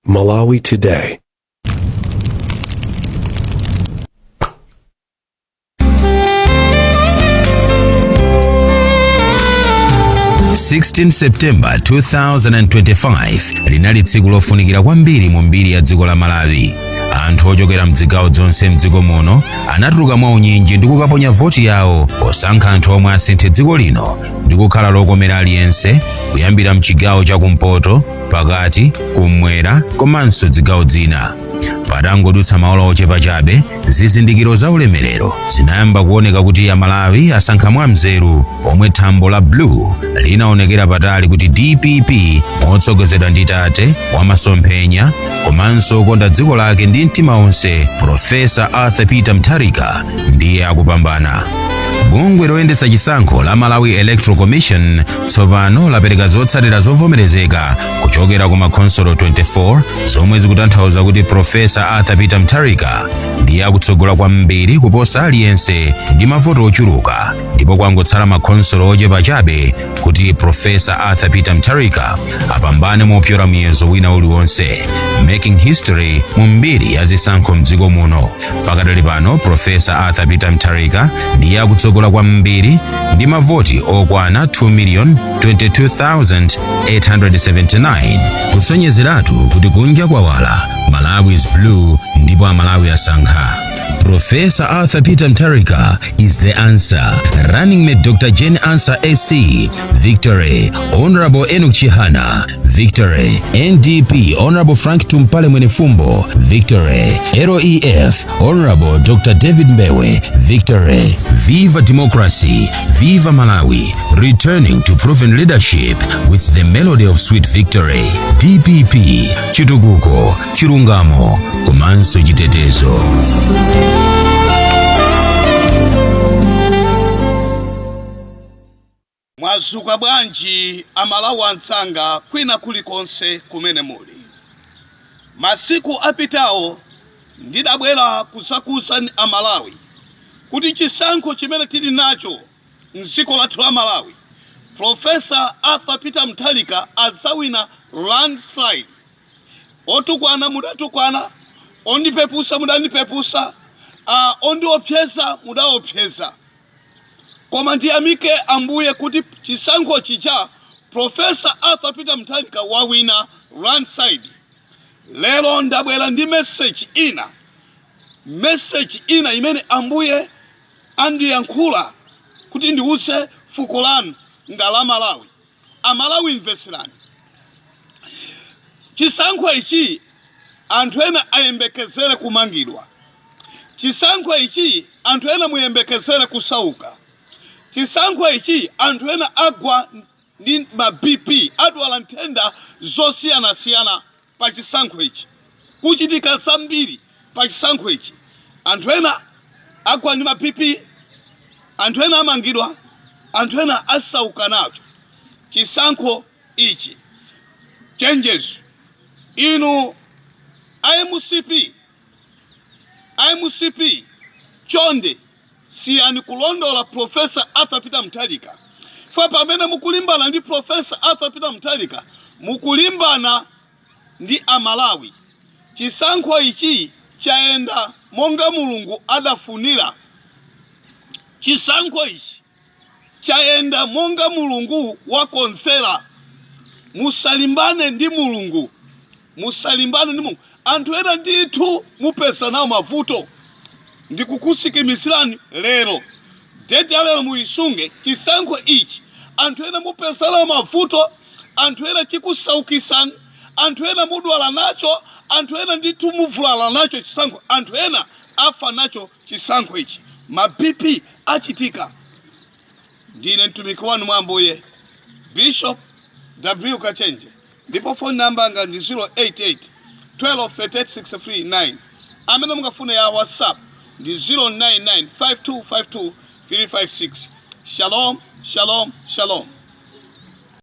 Malawi Today. 16 septemba 2025 linali tsiku lofunikira kwambiri mu mbiri ya dziko la malawi anthu ochokera mdzigawo dzonse mdziko muno anatuluka mwa unyinji ndi kukaponya voti yawo posankha anthu omwe asinthe dziko lino ndi kukhala lokomera aliyense kuyambira mchigawo cha kumpoto pakati kummwera komanso dzigawo dzina patangodutsa maola ochepa chabe zizindikiro za ulemerero zinayamba kuoneka kuti amalawi asankha mwa nzeru pomwe thambo la blue linaonekera patali kuti dpp motsogozedwa ndi tate wa masomphenya komanso okonda dziko lake ndi mtima onse profesa arthur peter mutharika ndiye akupambana bungwe loyendetsa chisankho la malawi electoral commission tsopano lapereka zotsatira zovomerezeka kuchokera ku makhonsolo 24 zomwe zikutanthauza kuti profesa arthur peter mutharika ndiye akutsogola kwambiri kuposa aliyense ndi mavoti ochuluka ndipo kwangotsala makhonsolo ochepa chabe kuti profesa arthur peter mutharika apambane mopyola muyezo wina uliwonse making history mu mbiri ya zisankho mdziko muno pakadali pano profesa arthur peter mutharika ndiye akutsogola kwambiri ndi mavoti okwana 2,022,879 kusonyezeratu kuti kunja kwawala malawi is blue ndipo amalawi asankha Professor Arthur Peter Mutharika is the answer. Running mate Dr. Jane Ansah SC. Victory. Honorable Enoch Chihana. Victory NDP Honorable Frank Tumpale Mwenefumbo Victory REF Honorable Dr. David Mbewe Victory Viva Democracy Viva Malawi Returning to proven leadership with the melody of sweet victory DPP Chitukuko Chirungamo Komanso Chitetezo Mwazuka bwanji a Malawi anzanga kwina kuli konse kumene muli. Masiku apitawo ndidabwera kuzauza a Malawi kuti chisankho chimene tili nacho mdziko lathu la Malawi, Prof. Arthur Peter Mutharika azawina landslide. Otukwana mudatukwana, ondipepusa mudandipepusa, ondiopseza mudaopseza. Koma ndiyamike Ambuye kuti chisankho chija Prof. Arthur Peter Mutharika wawina landslide. Lero ndabwera ndi message ina, message ina imene Ambuye andiyankhula kuti ndiuze fuko langa la Malawi. Amalawi mvetserani. Chisankho ichi anthu ena ayembekezere kumangidwa. Chisankho ichi anthu ena muyembekezere kusauka. Chisankho ichi anthu ena agwa ndi ma BP, adwala nthenda zosiyanasiyana. pa chisankho ichi, kuchitika zambiri pa chisankho ichi, anthu ena agwa ndi ma BP, anthu ena amangidwa, anthu ena asauka nacho chisankho ichi. Chenjezo kwa inu a mcp! A mcp chonde siyani kulondola Prof. Arthur Peter Mutharika chifukwa pamene mukulimbana ndi Prof. Arthur Peter Mutharika mukulimbana ndi a Malawi. Chisankho ichi chayenda monga Mulungu adafunira. Chisankho ichi. chayenda monga Mulungu wakonzera. Musalimbane ndi Mulungu, musalimbane ndi Mulungu. Anthu ena ndithu mupeza nawo mavuto, ndikukusikimizirani lero deti ya lero muyisunge chisankho ichi. Anthu ena mupeza nawo mavuto, anthu ena chikusaukisani, anthu ena mudwala nacho, anthu ena ndithu muvulala nacho chisankho, anthu ena afa nacho chisankho ichi ma bp achitika ndine mtumiki wanu mwa ambuye bishop w kachenje ndipo phone number anga ndi 088 1238639 amene mungafune ya whatsapp ndi 0995252356 shalom shalom shalom